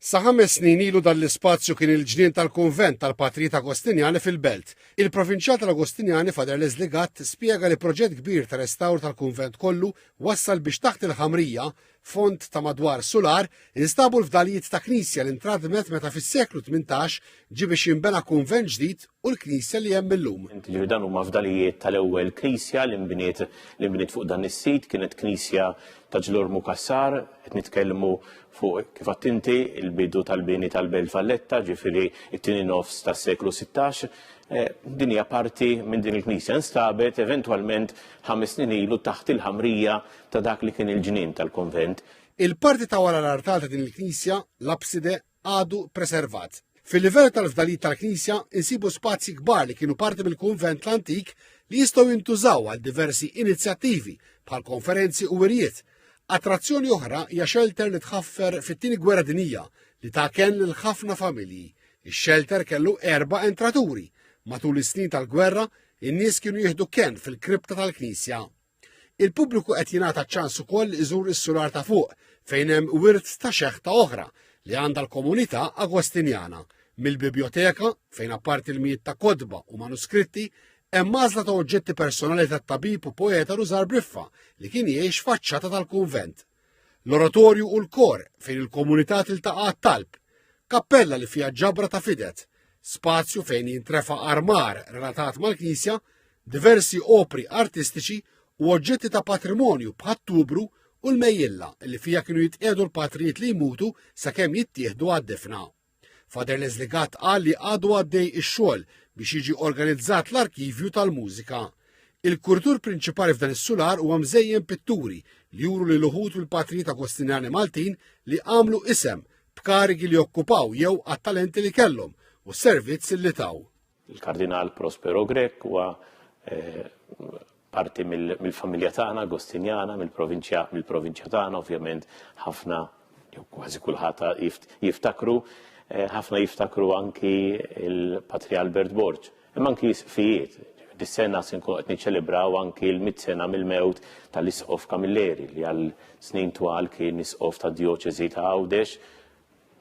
Sa ħames snin ilu dan l-ispazju kien il-ġnien tal-kunvent tal-Patrijiet Agostinjani fil-Belt. Il-Provinċjal tal-Agostinjani Father Leslie Gatt spjega li proġett kbir ta' restawr tal-kunvent kollu wassal biex taħt il-ħamrija, fond ta' madwar sular, instabu l-fdalijiet ta' knisja li ntradmet meta fis-seklu tmintax ġie biex jinbena kunvent ġdid u l-Knisja li hemm illum. Jiġifieri dan huma fdalijiet tal-ewwel Knisja li nbniet li nbniet fuq dan is-sit, kienet Knisja ta' Ġlur Mukassar, qed nitkellmu fuq kif għadt inti il-bidu tal-bini tal-Belt Valletta, ġifieri t-tieni nofs tas-seklu 16. Eh, din hija parti minn din il-Knisja nstabet eventwalment ħames snin ilu taħt il-ħamrija ta' dak li kien il-ġnien tal-konvent. Il-parti ta' wara l-artal ta' din il-Knisja, l-abside, għadu preservat. Fil-livell tal-fdalijiet tal-knisja insibu spazji kbar li kienu parti mill-kunvent l-antik li jistgħu jintużaw għal diversi inizjattivi bħal konferenzi u wirjiet. Attrazzjoni oħra hija xelter li tħaffer fit-tieni gwerra dinija li ta' kenn lil ħafna familji. Ix-xelter kellu erba' entraturi. Matul is-snin tal-gwerra, in-nies kienu jieħdu kenn fil-kripta tal-knisja. Il-pubbliku qed jingħata ċ-ċans ukoll iżur is-sular ta' fuq fejn hemm wirt ta' xeħta oħra li għandha l-komunità Agostinjana, mill-bibjoteka fejn apparti l-mijiet ta' kotba u manuskritti hemm għażla ta' oġġetti personali tat-tabib u poeta Rużar Briffa li kien jgħix faċċata tal-kunvent. L-oratorju u l-kor fejn il-komunità tiltaqa' għat-talb. Kappella li fiha ġabra ta' fidet, spazju fejn jintrefa' armar relatat mal-knisja, diversi opri artistiċi u oġġetti ta' patrimonju bħat-tubru u l-mejjilla li fiha kienu jitqiegħdu l-patrijiet li jmutu sakemm jittieħdu għad-difna. Father Leslie Gatt qal li għadu għaddej ix-xogħol biex jiġi organizzat l-arkivju tal-mużika. Il-kurtur prinċipali f'dan is-sular huwa mżejjen pitturi li juru li l-uħut u l-patrijiet agostinjani Maltin li għamlu isem b'karigi li okkupaw jew għat-talenti li kellhom u s-servizz li taw. Il-Kardinal Prospero Grech huwa eh, parti mill-familja tagħna Agostinjana, mill-provinċja mill-provinċja tagħna, ovvjament ħafna jew kważi kulħadd jiftakru, eh, ħafna jiftakru anki il-Patri Albert Borg, imma anki fijiet. Dis-sena se nkunu qed niċċelebraw anki l-mit sena mill-mewt tal-Isqof Kamilleri li għal snin twal kien Isqof tad-Djoċeżi ta' Għawdex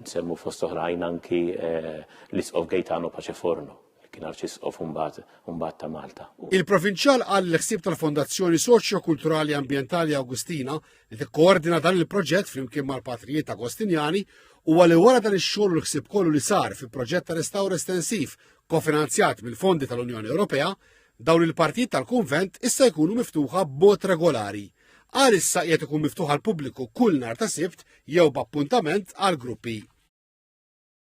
Nsemmu fost oħrajn anki l-Isqof Gaetano Paceforno li kien arċisqof mbagħad ta' Malta. Il-Provinċjal qal li l-ħsieb tal-Fondazzjoni Soċjo-Kulturali Ambjentali Awgustina li tikkoordina dan il-proġett flimkien mal-Patrijiet Agostinjani huwa li wara dan ix-xogħol u l-ħsieb kollu li sar fi proġett ta' restawr estensiv kofinanzjat mill-fondi tal-Unjoni Ewropea Dawn il-partijiet tal-kunvent issa jkunu miftuħa b'mod regolari. Għalissa qiegħed ikun miftuħ għall-pubbliku kull nhar ta' Sibt jew b'appuntament għall-gruppi.